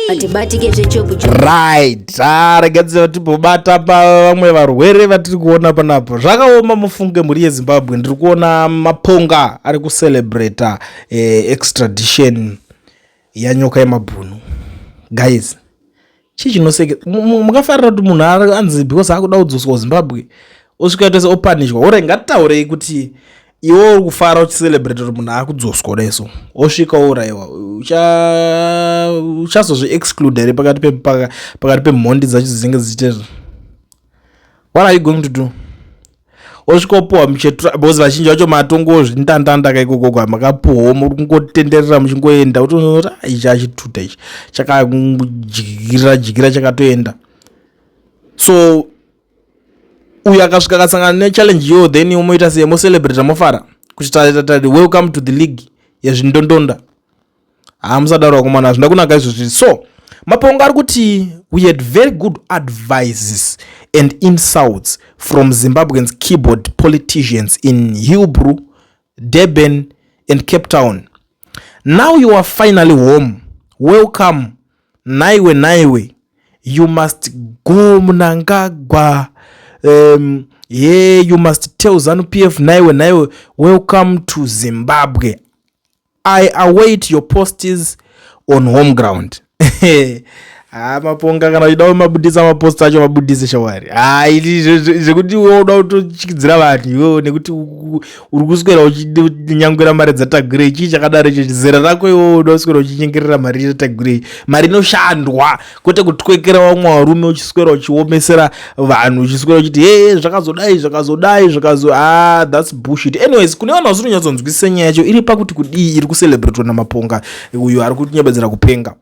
hatibatike zvechopucho right ah, rega dziva tibobata pa vamwe varwere vatiri kuona panapo zvakaoma mufunge mhuri yezimbabwe ndiri kuona maponga ari kucelebrata eh, extradition yanyoka yemabhunu guys chii chinoseke mukafarira kuti munhu anzi because akuda kudzoswa kuzimbabwe osvika ita se opanishwa ore ngatitaurei kuti iwe uri kufara uchicelebrate kuti munhu akudzoswa kudai so osvika ourayiwa uchazozvi exclude here pakati pemhondi dzacho dzinenge dzichitezva what are you going to do osvikopuhwa muchetura because vazhinji vacho matongo zvindandanda kaikokoko amakapuhwa muri kungotenderera muchingoenda utoona ah, ichi achituta ichi chakadyira dyira chakatoenda so uyo akasvika akasangana nechallenge yo then umoita sei mocelebrata mofara kuti tari welcome to the league yezvindondonda haa musadaro vakomana hazvina kunaka izvozvi so mapongo ari kuti we had very good advices and insults from zimbabweans keyboard politicians in hillbrew durban and cape town now you are finally home welcome naiwe naiwe you must go munangagwa um, ye you must tell zanupf naiwe naiwe welcome to zimbabwe I await your posts on home ground. Ah, maponga kana uchida kumabudisa mapost acho mabudise shawari ah, zvekuti iwe uda kutotyidzira vanhu iwewo nekuti uri kuswera uchinyangwira mari dzatagurei chii chakadaro icho zera rako iwewo uda kuswera uchinyengerera mari yatagurei mari inoshandwa kwete kutwekera vamwe varume uchiswera uchiomesera vanhu uchiswera uchiti hee zvakazodai zvakazodai zvakazo ah thats bushit anyways kune vanhu vasinonyatsonzwisisa nyaya yacho iri pakuti kudii iri kucelebratwa namaponga uyo ari kutinyebedzera kupenga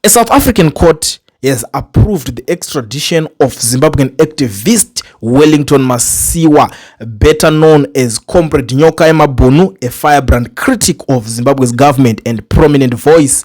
a south african court has approved the extradition of zimbabwean activist wellington masiwa better known as comrade nyoka yemabhunu a firebrand critic of zimbabwe's government and prominent voice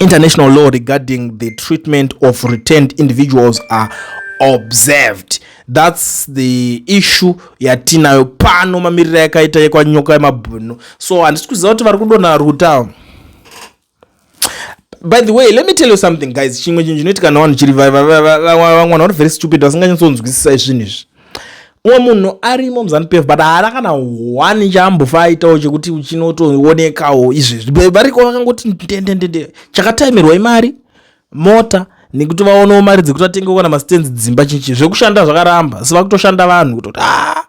international law regarding the treatment of returned individuals are observed thats the issue yatinayo pano mamiriro yakaita yekwanyoka yemabhunu so handisi kuziva kuti vari kudonha vari kutawa by the way let me tell you something guys chimwe chinhu chinoitika navanhu chiri vamwana vari very stupid vasinganyatsonzwisisa izvinhu izvi umwe munhu arimo muzanup f but haana kana one chaambofa aitawo chekuti chinotoonekawo izvezvi variko vakangoti ndendendende chakataimirwa imari mota nekuti vaonawo mari dzekuti vatengewo kana mastands dzimba chichi zvekushanda zvakaramba asi vakutoshanda vanhu kutoti ah,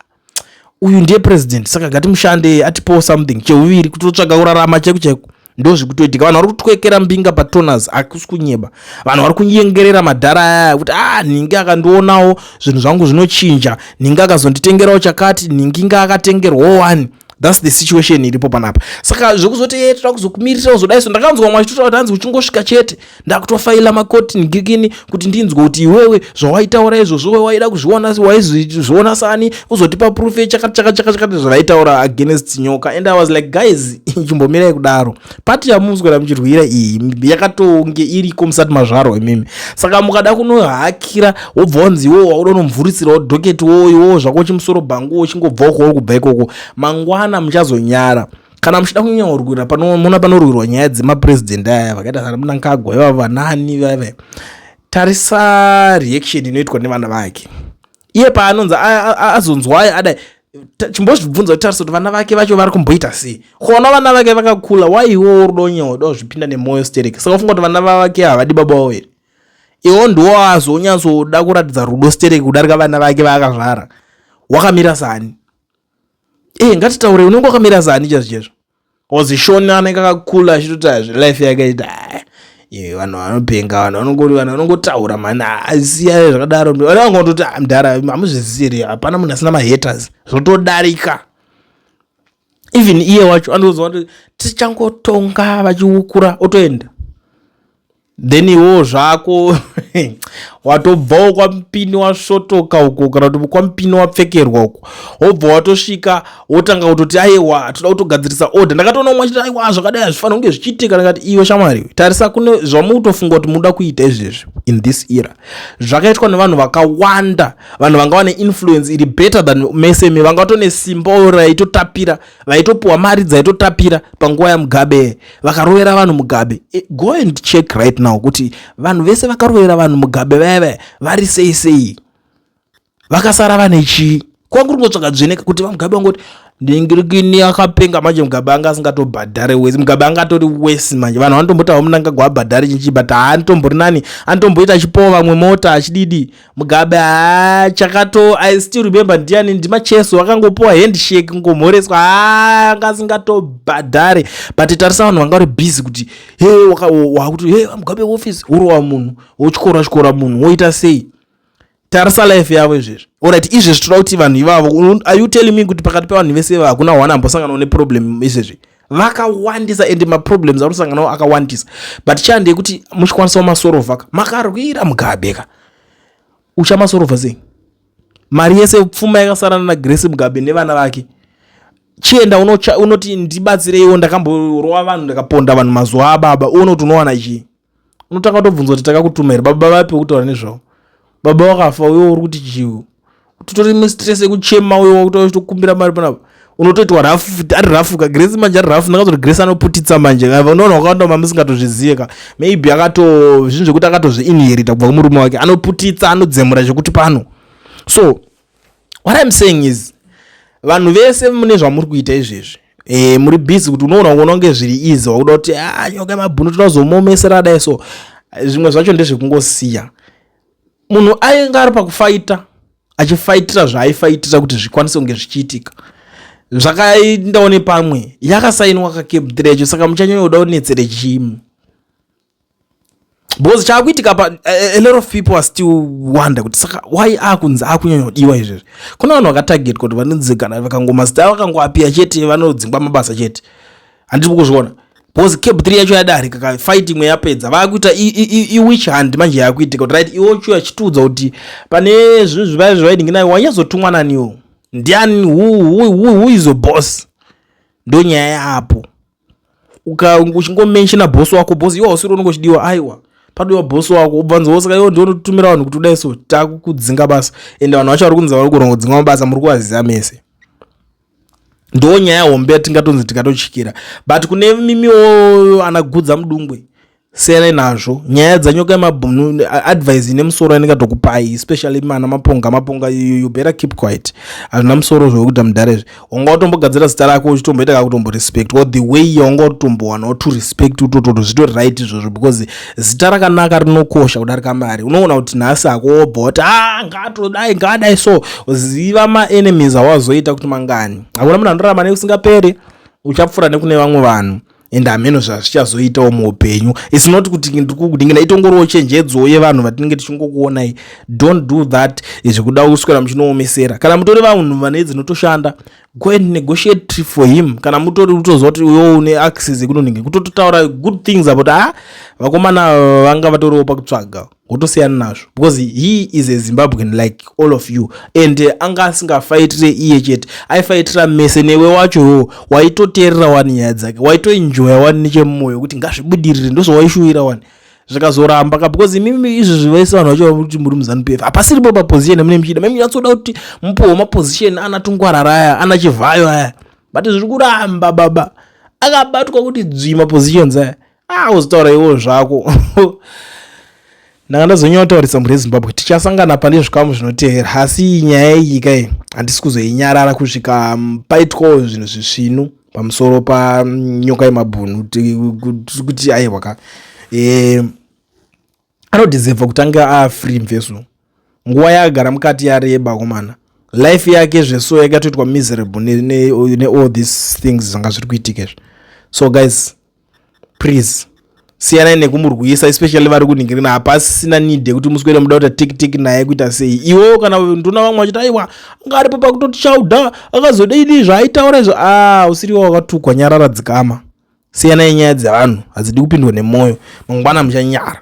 uyu ndiye president saka gatimushande atipowo something cheuviri kutotsvaga kurarama chaiku chaiku ndozvikutoitika vanhu vari kutwekera mbinga patoners akusi kunyeba vanhu vari kunyengerera madhara ayaya kuti ah nhingi akandionawo zvinhu zvangu zvinochinja nhingi akazonditengerawo chakati nhingi nga akatengerwawo wani thats the situation iripo panapa saka zvekuzoti ye eh, toda kuzokumirira uzodaiso ndakanzwa mwachitotaura kuti hanzi uchingosvika chete ndakutofaila makoti ngikini kuti ndinzwe kuti iwewe zvawaitaura izvozvo we waida kuzviona waizviona sani uzotipa proof yechakati chakati chakati chakati zvavaitaura against nyoka and i was like guys chimbomirai kudaro pati yamuswera muchirwira iyi yakatonge iriko musati mazvarwa imimi saka mukada kunohakira wobva wanzi iwowo wauda unomvurisirawo doketi wowo iwowo zvako chimusoro bhangu wo chingobva ukoo kubva ikoko mangwana muchazonyara kana muchida kunyanyorwira panoona panorwirwa nyaya dzemapurezidendi aya vakaita sana munangagwa ivavo vanani vave tarisa reaction inoitwa nevana vake iye paanonzi azonzwai adai chimbozvibvunza kuti tarisa kuti vana vake vacho vari kumboita sei kona vana vake vakakula waiwo uridonyewo dozvipinda nemwoyo stereki saka ufunga kuti vana vavake havadi baba wavo here iwo ndiwo azonyatsoda kuratidza rudo stereki kudarika vana vake vaakazvara wakamira sani ee eh, ngatitaure unenge wakamira zani chazvo chezvo ozishona anenge akakula achitoti azvi life yakaita vanhu vanopenga vanhu vanongoti vanhu vanongotaura mani asiya zvakadaro vana vangototi ah, mdhara hamuzvisiri hapana munhu asina mahaters zvotodarika even iye wacho anozova kuti tichangotonga vachiukura otoenda then iwo zvako watobvawo kwamupini wasvotoka uko kana kuti kwamupini wapfekerwa uko wobva watosvika wotanga kutoti aiwa toda kutogadzirisa order ndakatoona umwe achiti aiwa zvakadai hazvifanira kunge zvichiitika ndakati iwe shamwari tarisa kune zvamukutofunga kuti munoda kuita izvezvi in this era zvakaitwa nevanhu vakawanda vanhu vanga vane influence iri better than mese me vanga vatone simba raitotapira vaitopiwa mari dzaitotapira panguva yamugabe vakarovera vanhu mugabe e, go and check right now kuti vanhu vese vakarovera vanhu mugabe vaya vaya vari sei sei vakasara vane chii kwanga kuri kungotsvaka dzveneka kuti vamugabe vangoti ndingirikini akapenga manje mugabe anga asingatobhadhare wesi mugabe anga atori wesi manje vanhu vanotombotawa munangagwa abhadhare chinchii but haanitomborinani anotomboita achipowa vamwe mota achididi mugabe haa chakato i still remember ndiani ndimacheso akangopiwa handshake ngomhoreswa haa anga asingatobhadhare but tarisa vanhu vanga vari busy kuti he wakuti he mugabe office urova munhu wotyora tyora munhu woita sei tarisa life yavo izvezvi orit izvezvi toda kuti vanhu ivavo are you telling me kuti pakati pevanhu vese ivavo hakuna one ambosanganawo neproblem izvezvi vakawandisa and maproblems anosanganawo akawandisa but chande yekuti muchikwanisawo masorova ka makarwira mugabe ka uchamasorova sei mari yese pfuma yakasarana nagrace mugabe nevana vake chienda unoti ndibatsireiwo ndakamborowa vanhu ndakaponda vanhu mazuva ababa uone kuti unowana chii unotanga tobvunza kuti takakutuma here baba vapi wekutaura nezvavo baba wakafa uyo uri kuti chiu titori mistress yekuchema uyo wakutaura chitokumbira mari panapa unotoitwa rafu ari rafu ka grace manje ari rafu ndakazoti grace anoputitsa manje ka unoona wakawanda ma musingatozvizive ka maybe akato zvinhu zvekuti akatozviinherita kubva kumurume wake anoputitsa anodzemura zvekuti pano so what I'm saying is vanhu vese mune zvamuri kuita izvezvi e, muri busy kuti unoona kuona kunge zviri easy wakuda kuti ah, nyoka yemabhunu tinozomomesera dai so zvimwe zvacho ndezvekungosiya munhu ainge ari pakufaita achifaitira zvaaifaitira kuti zvikwanise kunge zvichiitika zvakaendawo nepamwe yakasainwa kakebdrecho saka muchanyanya kuda kunetsere chimu because chaakuitika pa a lot of people are still wonder kuti saka why akunzi akunyanya kudiwa izvezvi kune vanhu vakatarget kuti vanonzi kana vakangomazita vakangoapia chete vanodzingwa mabasa chete handiri kuzviona because cap three yacho yadarika ka fight imwe yapedza vakuita iwich hand manje yakuitika kuti right iwocho yachitiudza kuti pane zvinhu zvivaya zvaidinginayo wanyazotumwa naniwo ndiani who is your boss ndonyaya yapo uchingomenshina boss wako boss iwo hausiri unenge uchidiwa aiwa padiwa boss wako ubvanzi wosaka iwo ndiwo unotumira vanhu kuti udai so takukudzinga basa ende vanhu vacho vari kunzi vari kuranga kudzinga mabasa muri kuvaziva mese ndo nyaya hombe yatingatonzi tikatochikira but kune mimiwo anagudza mudungwe siyanai nazvo nyaya dzanyoka yemabhunu advise ine musoro yandingatokupai especially mana maponga maponga you better keep quiet hazvina musoro zvekuita mudhare zve wanga watombogadzira zita rako uchitomboita kakutombo respect or the way yawanga utotombowana wato respect utototo zvitori right izvozvo because zita rakanaka rinokosha kudarika mari unoona kuti nhasi ako wobva wati a ah, ngatodai ngadai so ziva maenemies awazoita kuti mangani hakuna munhu anorarama neusingaperi uchapfura nekune vamwe vanhu and hameno zvazvichazoitawo muupenyu its not kuti ndikukudingina itongoriwo chenjedzowo yevanhu vatinenge tichingokuonai don't do that zvekuda kuswera muchinoomesera kana mutori vanhu vane dzinotoshanda go and negotiate for him kana mutori utoziva kuti uyo une access yekunonenge kutototaura good things about a ah, vakomana vanga vatoriwo pakutsvaga wotosiyana nazvo because he is a zimbabwean like all of you and eh, anga asingafaitire iye chete aifaitira mese newe wacho iwo waitoteerera wani nyaya dzake waitoenjoya wani nechemumwoyo kuti ngazvibudirire ndozvawaishuwira wani zvikazoramba ka because imimi izvi zvivaisa vanhu vacho vakuti muri muzanup f hapasiripo paposition amune muchida mimi nyatsoda kuti mupowo maposition ana tungwarara aya ana chivhayo aya but zviri kuramba baba akabatwa kuti dzvi mapositions aya ah uzitaura iwo zvako ndanga ndazonyanya kutaurisa mhuri yezimbabwe tichasangana pane zvikamu zvinotevera asi nyaya iyi kai handisi kuzoinyarara kusvika mm, paitwawo zvinhu zvisvinu pamusoro panyoka yemabhunu kuti aiwa ka e, anodizevha kutanga aa free mveso nguva yaagara mukati yareba komana life yake zveso yakatoitwa miserable neall ne, ne these things zvanga zviri kuitika izvi so guys please siyanai nekumurwisa especially vari kuningirina hapasina need yekuti muswere muda kuita tikitiki naye kuita sei iwewo kana ndona vamwe vachiti aiwa anga aripo pakutoti chauda akazoda idii zvaaitaura izvo a ah, usiriwo wakatukwa nyarara dzikama siyanai nyaya dzevanhu hadzidi kupindwa nemwoyo mangwana muchanyara.